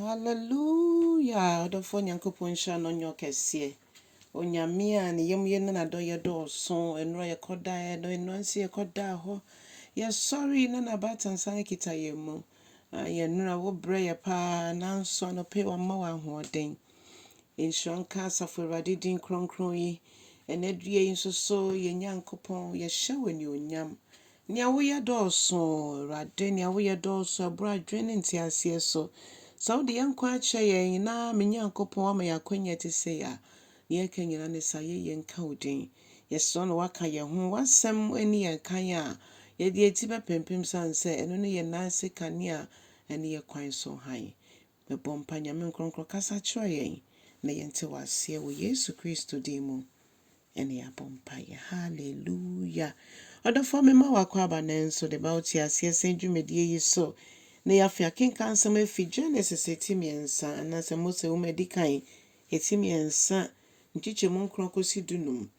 Hallelujah ɔdomfoɔ Nyankopɔn nhyira no nyɛ ɔkɛseɛ Onyame a ne yam yɛ ne n'adɔyɛ dɔɔso Nnora yɛkɔ daeɛ no nnora nso yɛkɔ daa hɔ Yɛsɔre na n'abaatan san kita yɛn mu Ah yɛn nnora wo brɛ yɛ paa nanso anɔpa yi wama wo ahoɔden Nhyira nka asafo Awurade din kronkron yi Ɛnɛ dua yi nso so yɛn Nyankopɔn yɛhyɛ wo anuonyam Nea woyɛ dɔɔso, Awurade, nea woyɛ dɔɔso, ɛboro adwene ne nteaseɛ so. Sɛ wode yɛn nkwa akyɛ yɛn, na me Nyankopɔn woama yɛn akwanya a ɛte sei a, nea ɛka nyinaa ne sɛ ayɛyie nka wo din. Yɛsrɛ wo na woaka yɛn ho. W'asɛm nni yɛn kan a, yɛde yɛn ti bɛpempem, sane sɛ ɛno ne yɛn nan ase kanea ne yɛn kwan so hann. Mebɔ mpa Nyame nkorɔnkorɔ kasa kyerɛ yɛn na yɛnte w'aseɛ wɔ Yesu Kristo din mu ɛne yɛabɔ mpaeɛ Hallelujah Ɔdɔfoɔ mema wo akwaaba nɛ nso de ba wo te aseɛ sɛn dwumadie yi so na yɛafe akenkan nsɛm afi Genesis ɛti mmiɛnsa anaasɛ Mose nwoma ɛdikan ɛti mmiɛnsa nkyekyɛmu nkron kɔsi du num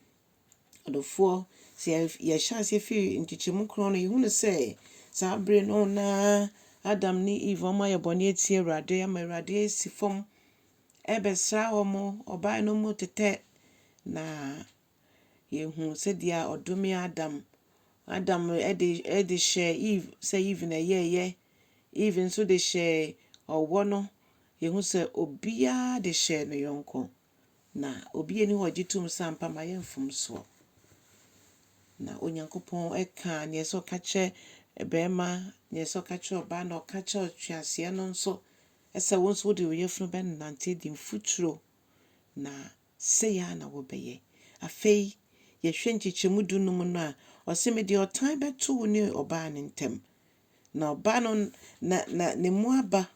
Adɔfoɔ, sɛ yɛhyɛ aseɛ firi nkyekyɛmu korɔn no, yɛhunu sɛ saa berɛ no na Adam ne Eve wɔayɛ bɔne atia Awurade ama Awurade asi fam rebɛsra wɔn, ɔbaeɛ no wɔn tetɛ, na yɛhunu sɛdeɛ ɔdome Adam, Adam de de hyɛɛ Eve sɛ Eve na ɛyɛeɛ, Eve nso de hyɛɛ ɔwɔ no, yɛhunu sɛ obiara de hyɛɛ ne yɔnko. Na obi nni hɔ a ɔgye tom sɛ ampa mayɛ mfomsoɔ. Na Onyankopɔn kaa neɛ ɛsɛ ɔka kyerɛ barima, neɛ ɛsɛ ɔka kyerɛ ɔbaa, na ɔka kyerɛ ɔtweaseɛ no nso sɛ wo nso wode wo yafunu bɛnante adi mfuturo, na sei ara na wobɛyɛ. Afei yɛhwɛ nkyekyɛmu du num no a, ɔse mede ɔtan bɛto wo ne ɔbaa no ntam, na ɔbaa no na na ne mu aba.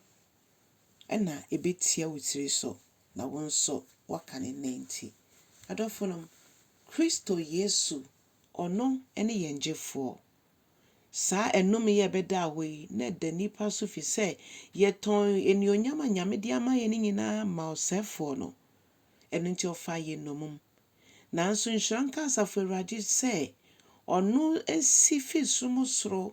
ɛna ɛbɛtia wo tiri so na wo nso woaka ne nanti. Adɔfonom, Kristo Yesu, Ɔno ne yɛn Gyefoɔ. Saa ɛnome yi a ɛbɛdaa hɔ yi, na ɛda nnipa so firi sɛ yɛtɔn anuonyam a Nyame de ama yɛn no nyinaa maa ɔsɛefoɔ no, ɛno nti ɔfaa yɛn nnommum, Nanso nhyira nka Asafo Awurade sɛ ɔno si fi sum soro,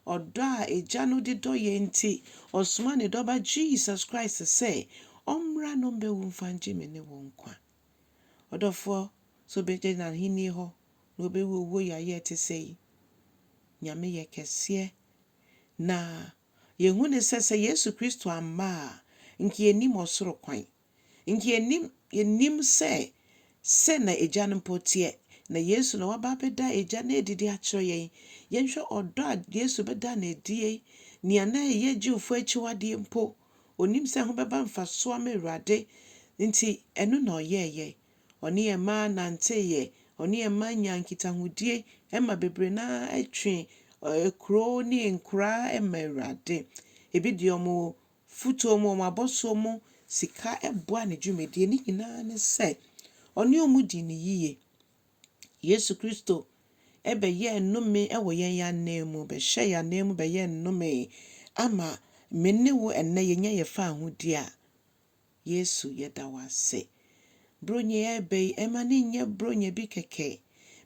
ɔdɔ a Agya no de dɔ yɛn nti, ɔsomaa ne Dɔba Jesus Christ sɛ ɔmmra na ɔmmɛwu mfa ngye me ne wo nkwa. Ɔdɔfoɔ, sɛ wobɛgya N'Ahennie hɔ na wobɛwu owuo yaayɛ a ɛte sɛi? Nyame yɛ kɛseɛ. Na yɛhu no sɛ sɛ Yesu Kristo amma a, nka yɛnnim ɔsoro kwan. Nti yɛnim, yɛnim sɛ, sɛ na Agya no mpo teɛ, na Yesu na waba abɛda Agya no adi de akyerɛ yɛn. Yɛnhwɛ ɔdɔ a Yesu bɛdaa no adie, nea na ɛyɛ Jewfoɔ akyiwadeɛ mpo, ɔnim sɛ ɛho bɛba mfasoɔ ama Awurade, nti ɛno na ɔyɛeɛ. Ɔne yɛn mma nanteeɛ, ɔne yɛn mma nyaa nkitahodie, ɛma bebree no ara twee kuro ne nkuraa maa Awurade. Ebi deɛ wɔn fotoɔ mu, wɔn abɔsoɔ mu sika boa ne dwumadie. Ne nyinaa ne sɛ, ɔne wɔn dii no yie. Yesu Kristo bɛyɛɛ nnome wɔ yɛn ananmu, bɛhyɛɛ yɛn ananmu bɛyɛɛ nnome ama me ne wo ɛnnɛ yɛnya yɛn fawohodie a, Yesu yɛda wo ase. Buronya yi a ɛreba yi, mma no nyɛ buronya bi kɛkɛ.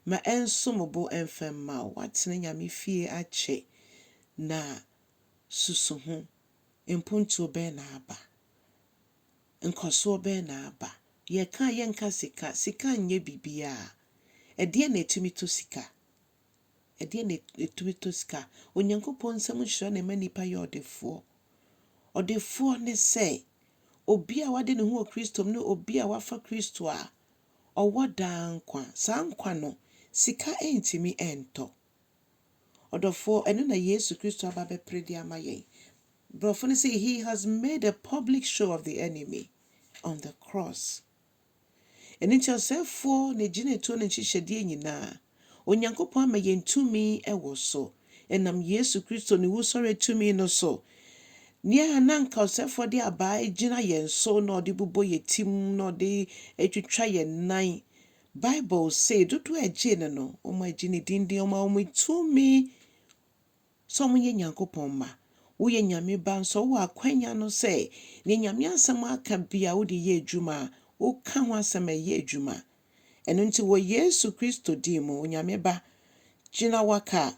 Ma ɛnsom bo mfa mma wo. Woatena Nyame fie akyɛ, na susu ho. mpontuo bɛn na aba? Nkɔsoɔ bɛn na aba? Yɛka a yɛnka sika, sika nyɛ biribiara. Ɛdeɛn na ɛtumi tɔ sika? Ɛdeɛn na ɛtumi tɔ sika? Onyankopɔn nsɛm nhyira na ɛma nnipa yɛ ɔdefoɔ. Ɔdefoɔ ne sɛ, obi a wade ne ho wɔ Kristo mu ne obi a wafa Kristo a ɔwɔ daa nkwa. Saa nkwa no, sika ntumi ntɔ. Ɔdɔfoɔ, ɛno na Yesu Kristo aba abɛpere de ama yɛn. Borɔfo no se, He has made a public show of the enemy on the cross. Ɛno nti, ɔsɛefoɔ, n'agyinatuo, ne nhyehyɛdeɛ nyinaa, Onyankopɔn ama yɛn tumi wɔ so. Ɛnam Yesu Kristo ne wusɔreɛ tumi no so, nea na anka ɔsɛefoɔ de abaa gyina yɛn so na ɔde bobɔ yɛn tirim na ɔde twitwa yɛn nan, Bible se dodoɔ a ɛgyee no no, wɔagye no din din, wɔama wɔn tumi sɛ wɔyɛ Nyankopɔn mma. Woyɛ Nyame ba nso a, wowɔ akwanya no sɛ deɛ Nyame asɛm aka biara wode yɛ adwuma a, woka ho asɛm ɛyɛ adwuma. Ɛno nti wɔ Yesu Kristo din mu, Onyame Ba, gyina waka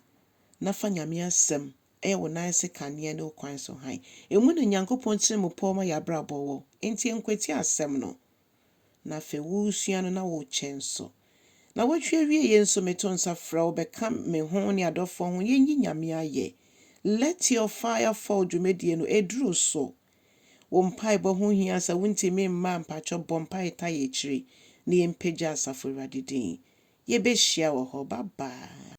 na fa Nyame asɛm ɛyɛ wo nan ase kanea ne wo kwan so hann. Emu na Nyankopɔn tiri mu pɔw ma yɛabrabɔ wɔ. Enti ɛnkwati asɛm no. na afei woresua no na worekyɛ nso. Na woatwi awie yei nso meto nsa frɛ wo bɛka me ho ne adɔfoɔ ho yɛnyi Nyame ayɛ. Let your fire fall dwumadie no ɛduru so. Wo mpaebɔ ho hia sɛ wontumi mma a mpakyɛw bɔ mpaeɛ tae akyire na yɛmpagya asafo Awurade din. Yɛbɛhyia wɔ hɔ. Bye bye.